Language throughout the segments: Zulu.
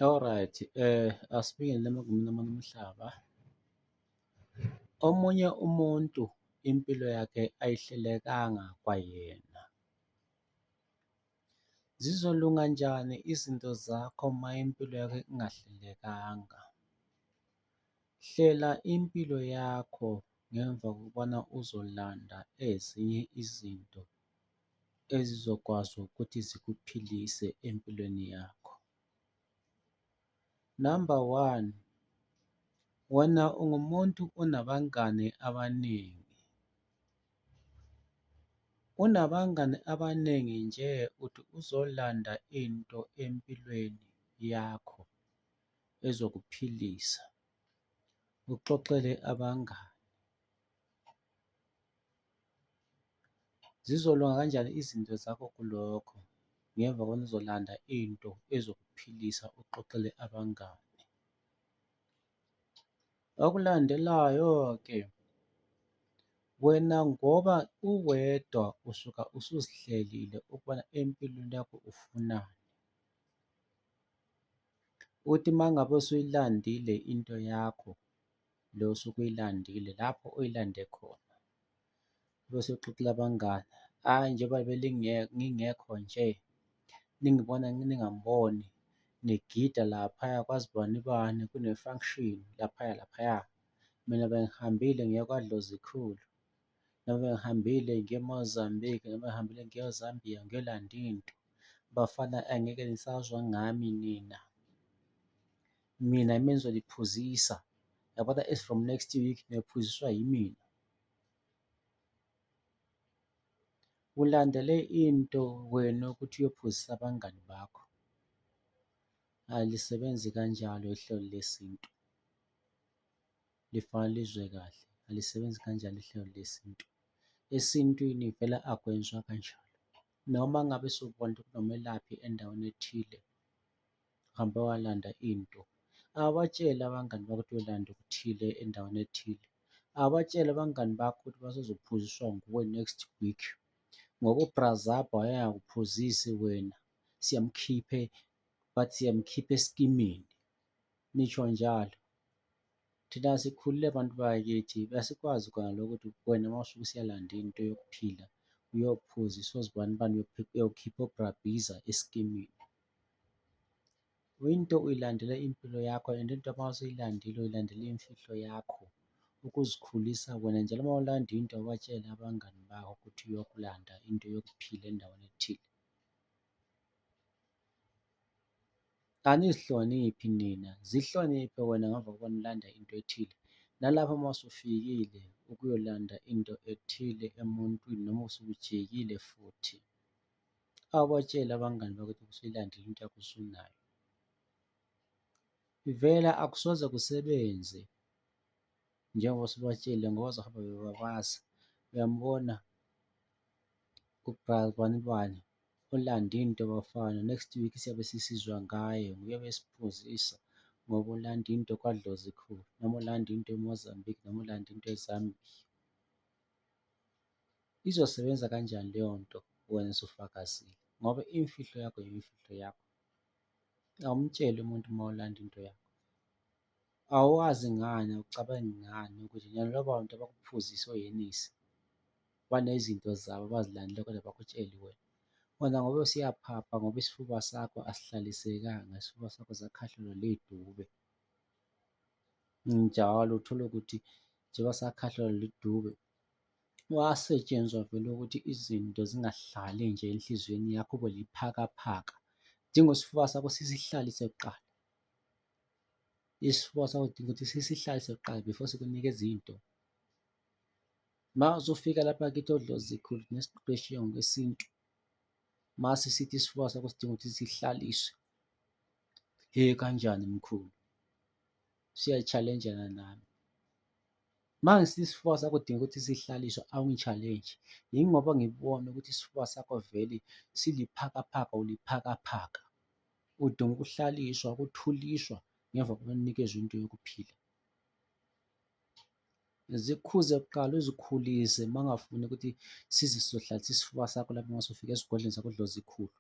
Alright, eh asibingelele emagumeni amane omhlaba. Omunye umuntu impilo yakhe ayihlelekanga kwayena. Zizolunga njani izinto zakho uma impilo yakho ingahlelekanga? Hlela impilo yakho ngemva kokubana uzolanda ezinye izinto ezizokwazi ukuthi zikuphilise empilweni yakho. Number one, wena ungumuntu onabangani abaningi. Unabangani abaningi nje uthi uzolanda into empilweni yakho ezokuphilisa, uxoxele abangani. Zizolunga kanjani izinto zakho kulokho ngemva kona uzolanda into ezokuphilisa uxoxele abangani. Okulandelayo-ke wena ngoba uwedwa usuka usuzihlelile ukubona empilweni yakho ufunani. Uthi uma ngabe usuyilandile into yakho le osuke uyilandile lapho uyilande khona, bese uxoxela abangani, hhayi njengoba ngingekho nje ningibona ningangiboni ngigida laphaya kwazi bani bani kune-function laphaya laphaya, mina bengihambile ngiya kwaDlozikhulu, noma bengihambile ngiya e-Mozambique, noma bengihambile ngiya e-Zambia ngiyolanda into. Bafana angeke nisazwa ngami nina. mina yimi engizoliphuzisa yabona as from next week niyophuziswa yimina ulandele into wena ukuthi uyophuzisa abangani bakho alisebenzi kanjalo ihlelo lesintu lifanele lizwe kahle alisebenzi kanjalo ihlelo lesintu esintwini vele akwenzwa kanjalo noma ngabe sokubona ukuthi kunomelaphi endaweni ethile Uhambe walanda into. Abatshele abangani bakho ukuthi uyolanda okuthile endaweni ethile. Abatshele abangani bakho ukuthi basezophuziswa nguwe next week, ngoba uBrazaba wayengakuphuzisi wena, siyamkhiphe but siyamkhipha esikimini, nisho njalo. Thina sikhulile bantu bakithi, asikwazi kona lokho ukuthi wena uma usuke usiyalanda into yokuphila, uyophuza isozi bani bani, uyokhipha uBrabhiza esikimini. Into uyilandela impilo yakho and into uma usuyilandile uyilandela imfihlo yakho, ukuzikhulisa wena njalo uma ulanda into awubatsheli abangani bakho ukuthi uyokulanda into yokuphila endaweni ethile. Anizihloniphi nina, zihloniphe wena ngemva kokuba nilanda into ethile. Nalapho uma usufikile ukuyolanda into ethile emuntwini noma usujikile futhi. Awubatsheli abangani bakho ukuthi usuyilandile into yakho usunayo. Ivela akusoze kusebenze njengoba usubatshele ngoba bazohamba bebabaza. Uyamubona uGral bani bani olanda into bafana next week siyabe sisizwa ngaye nguye obesiphuzisa ngoba ulanda into kwadlozi khulu noma ulanda into emozambique noma ulanda into ezambia Izosebenza kanjani leyo nto wena usufakazile ngoba imfihlo yakho yimfihlo yakho, awumtsheli umuntu uma ulanda into yakho. Awazi ngani, awucabangi ngani ukuthi nalaba bantu abakuphuzisa owenisi banezinto zabo abazilandela kodwa abakutsheli wena. Wena ngoba usuyaphapha ngoba isifuba sakho asihlalisekanga, isifuba sakho sakhahlelwa lidube njalo uthole ukuthi njengoba sakhahlelwa lidube. Wasetshenzwa vele ukuthi izinto zingahlali nje enhliziyweni yakho ube liphakaphaka. Dinga isifuba sakho sisihlalise kuqala. Isifuba sakho dinga ukuthi sisihlalise kuqala before sikunike izinto. Uma uzofika lapha kithi odlozikhulu nesiqeqeshiwe ngokwesintu, mase sithi isifuba sakho sidinga ukuthi sihlaliswe. He kanjani mkhulu? Siyayi-challenge-ana nami. Manje sithi isifuba sakho udinga ukuthi sihlaliswe awungi-challenge yingoba ngibona ukuthi isifuba sakho vele siliphakaphaka uliphakaphaka. Udinga ukuhlaliswa, ukuthuliswa ngemva kokuba unikezwe into yokuphila. Zikhuze kuqala uzikhulise uma ungafuni ukuthi size sizohlalisa isifuba sakho lapho mase ufika esigodlweni sakho odloza ikhulu.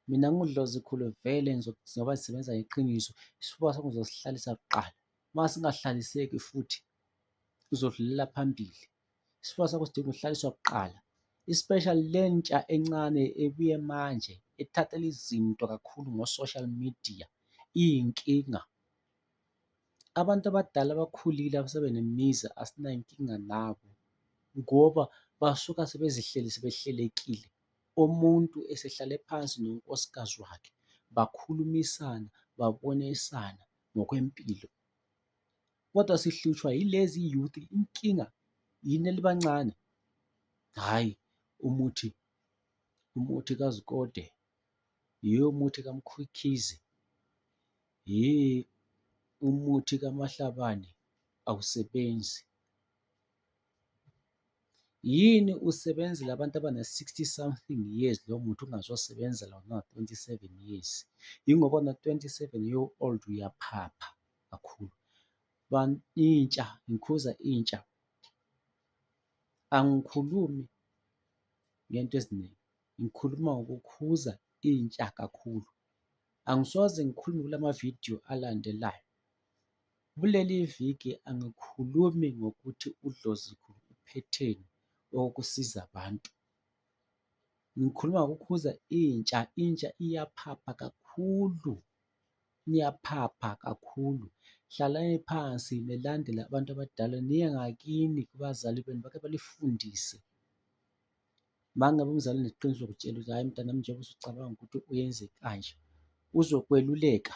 Mina nginguDlozi Khulu vele ngoba sisebenza ngeqiniso, isifuba sakho uzosihlalisa kuqala. Uma singahlaliseki futhi uzodlulela phambili. Isifuba sakho sidinga ukuhlaliswa kuqala. Especially le ntsha encane ebuye manje ethathela izinto kakhulu ngo-social media iyinkinga. Abantu abadala abakhulile asebe nemizi asinankinga nabo ngoba basuka sebezihleli sebehlelekile. Umuntu esehlale phansi nonkosikazi wakhe bakhulumisana babonisana ngokwempilo. Kodwa sihlutshwa yilezi youth inkinga yini elibancane? Hhayi umuthi, umuthi kaZikode, yho umuthi kaMkhukhizhe, yhii umuthi kaMahlabane awusebenzi. Yini usebenzela abantu abana-60 something years lo muthi ungazosebenzela wona ona-27 years? Yingoba ona-27 year old uyaphapha kakhulu. Intsha, ngikhuza intsha, angikhulumi ngento eziningi, ngikhuluma ngokukhuza intsha kakhulu. Angisoze ngikhulume kula mavidiyo alandelayo. Kuleli viki angikhulumi ngokuthi udlozi luphetheni okusiza abantu, ngikhuluma ngokukhuza intsha, intsha iyaphapha kakhulu, niyaphapha kakhulu. Hlalani phansi nilandele abantu abadala, niye ngakini kubazali benu bake banifundise. Uma ngabe umzali uneqiniso ukutshela ukuthi hhayi mntanami njengoba usucabanga ukuthi uyenze kanje, uzokweluleka.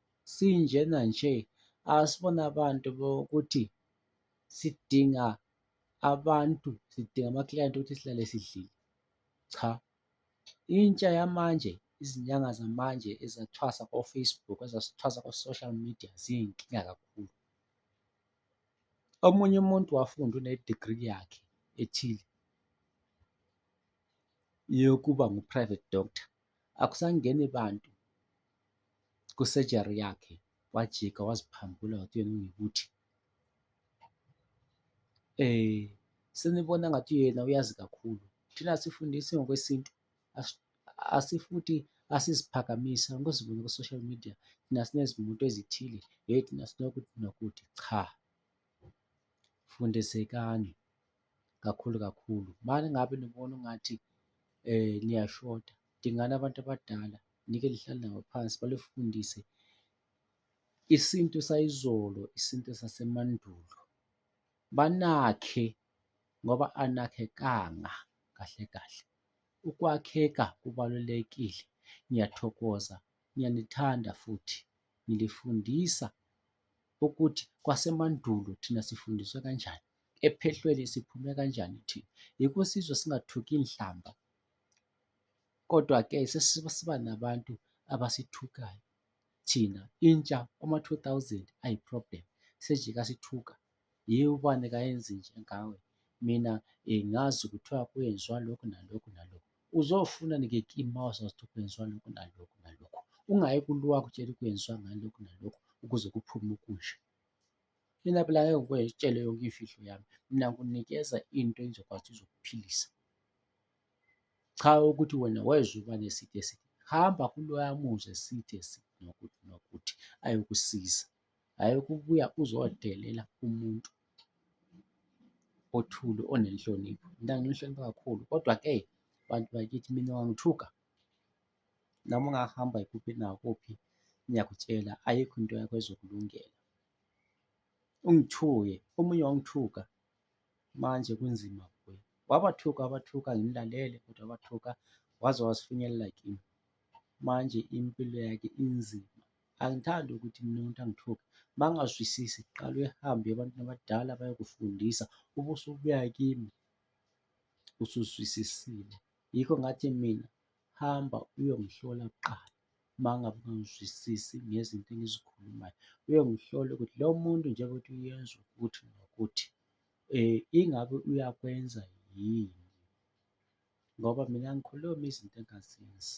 sinjena nje asibona abantu ukuthi sidinga abantu, sidinga amaklayenti ukuthi sihlale sidlile. Cha, intsha yamanje, izinyanga zamanje ezathwasa ko-Facebook, ezathwasa ko-social media ziyinkinga kakhulu. Omunye umuntu wafunda une-degree yakhe ethile yokuba ngu-private doctor. akusangeni bantu kusejari yakhe wajika waziphambula ngathi uyena ungikuthi um senibona ngathi uyena uyazi kakhulu thina sifundisi ngokwesintu asifuthi asiziphakamisa ngozibona ku-social media thina sinezimuntu ezithile hheyi thina sinokuthi nokuthi cha fundisekani kakhulu kakhulu. Uma ngabe nibona ungathi um niyashoda, dingani abantu abadala, nike lihlale nabo phansi, balifundise isintu sayizolo, isintu sasemandulo. Banakhe ngoba anakhekanga kahle kahle. Ukwakheka kubalulekile. Ngiyathokoza, ngiyanithanda futhi ngilifundisa ukuthi kwasemandulo thina sifundiswe kanjani, ephehlweni siphume kanjani thina. Yikho sizwe singathuki inhlamba kodwa-ke sesiba nabantu abasithukayo thina intsha ama-two thousand ayi-problem sejike asithuka yiyo ubani kayenzi nje ngawe mina um ngazi kuthiwa kwenziwa lokhu nalokhu nalokhu. uzofuna nike kima wasazithi kwenziwa lokhu nalokhu nalokhu ungayi kuluwa kutshela kwenziwa ngalokhu nalokhu ukuze kuphume ukusha mina phela ngeke ngikutshele yonke imfihlo yami mina ngikunikeza into engizokwazi izokuphilisa cha ukuthi wena wayezoba neside eside hamba kuloya muzi eside eside nokuthi nokuthi ayokusiza Hhayi ukubuya uzodelela umuntu othule onenhlonipho, mina nginihlonipha kakhulu kodwa-ke bantu bakithi mina ungangithuka noma ungahamba kuphi nakuphi ngiyakutshela ayikho into yakho ezokulungela. Ungithuke, omunye wangithuka manje kunzima kuye, wabathuka wabathuka ngimlalele kodwa wabathuka waze wazifinyelela kimi, manje impilo yakhe inzima. Angithandi ukuthi mina umuntu angithuke. Uma ungazwisisi qala uhambe ebantwini abadala bayokufundisa ube usubuya kimi usuzwisisile. Yikho ngathi mina hamba uyongihlola kuqala uma ngabe ungangizwisisi ngezinto engizikhulumayo. Uyongihlola ukuthi lo muntu njengoba uthi uyenza ukuthi nokuthi um ingabe uyakwenza yini ngoba mina angikhulumi izinto engazenzi.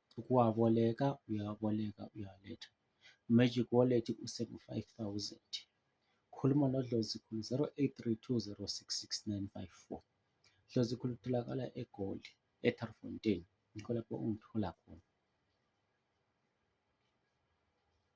Ukuwaboleka uyawaboleka uyawaletha. Magic Wallet useku five thousand. Khuluma noDlozi Khulu zero eight three two zero six six nine five four. Dlozi Khulu utholakala eGoli, eTharifontein, yikho lapho ungithola khona.